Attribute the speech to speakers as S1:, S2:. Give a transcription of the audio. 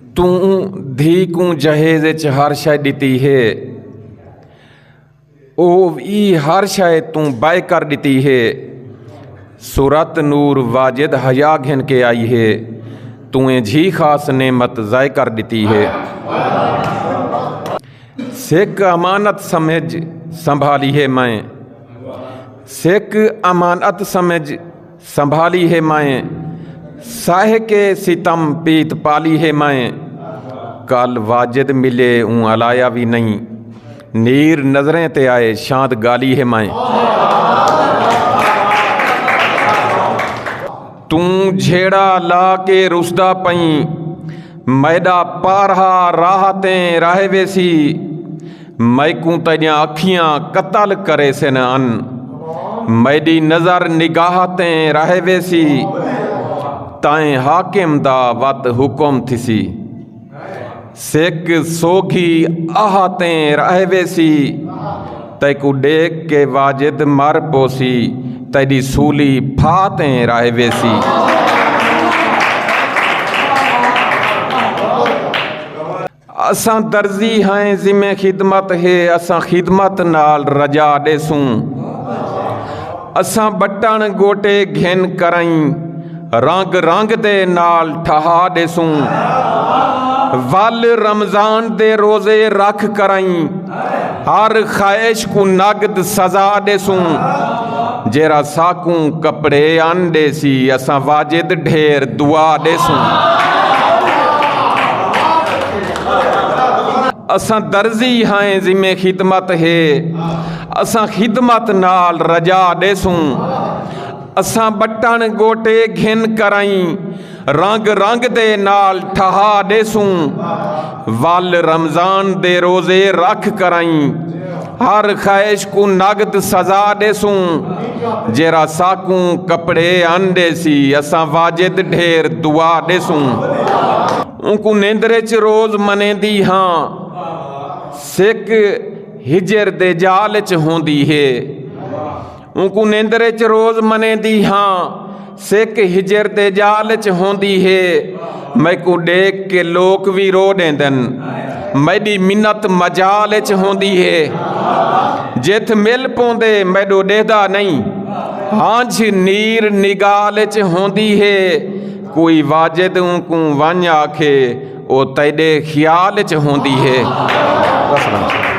S1: توں دھی کوں جہیز اچ ہر شے ڈتی ہے او ای ہر شے توں بے کر ڈتی ہے سورت نور واجد حیا گھن کے آئی ہے توں اے جھی خاص نعمت ضائع کر ڈتی ہے سکھ امانت سمجھ سنبھالی ہے میں سکھ امانت سمجھ سنبھالی ہے مائیں ساہ کے ستم پیت پالی ہے مائیں کل واجد ملے اون الایا بھی نہیں نیر نظریں تے آئے شاند گالی ہے مائیں توں جھیڑا لا کے رسدا پئیں میڈا پارہا راہ تیں راہ ویسی میکوں تیڈیاں اکھیاں قتل کریسن ان میڈی نظر نگاہ تیں رہ ویسی تائیں حاکم دا وت حکم تھسی سکھ سوگھی آہ تیں رہ ویسی تیکو ڈیکھ کے واجد مر پوسی تیڈی سولی پھا تیں رہ ویسی اساں درزی ہائیں ذمہ خدمت ہے اساں خدمت نال رجا ڈیسوں اساں بٹن گوٹے گھن کرائیں رنگ رنگ دے نال ٹھہا ڈیسوں ول رمضان دے روزے رکھ کرائیں ہر خواہش کوں نقد سزا ݙیسوں جیڑھا ساکوں کپڑے آن ݙیسی اساں واجد ڈھیر دعا ݙیسوں اساں درزی ہائیں ذمہ خدمت ہے اساں خدمت نال رجا ݙیسوں اساں بٹن گوٹے گھن کرائیں رنگ رنگ دے نال ٹھہا ݙیسوں ول رمضان دے روزے رکھ کرائیں ہر خواہش کو نقد سزا ݙیسوں جیرا ساکوں کپڑے ان ݙیسی اساں واجد ڈھیر دعا ݙیسوں اونکوں نیندر وچ روز منیندی ہاں سک ہجر دے جال وچ ہوندی ہے اونکوں نیندر اچ روز منیندی ہاں سک ہجر دے جال اچ ہوندی ہے میکوں ڈیکھ کے لوک وی رو ڈیندن میڈی منت مجال اچ ہوندی ہے جتھ مل پوندے میڈو ڈیہدا نہیں ہانجھ نیر نگال اچ ہوندی ہے کوئی واجد اونکوں ونج آکھے او تیڈے خیال اچ ہوندی ہے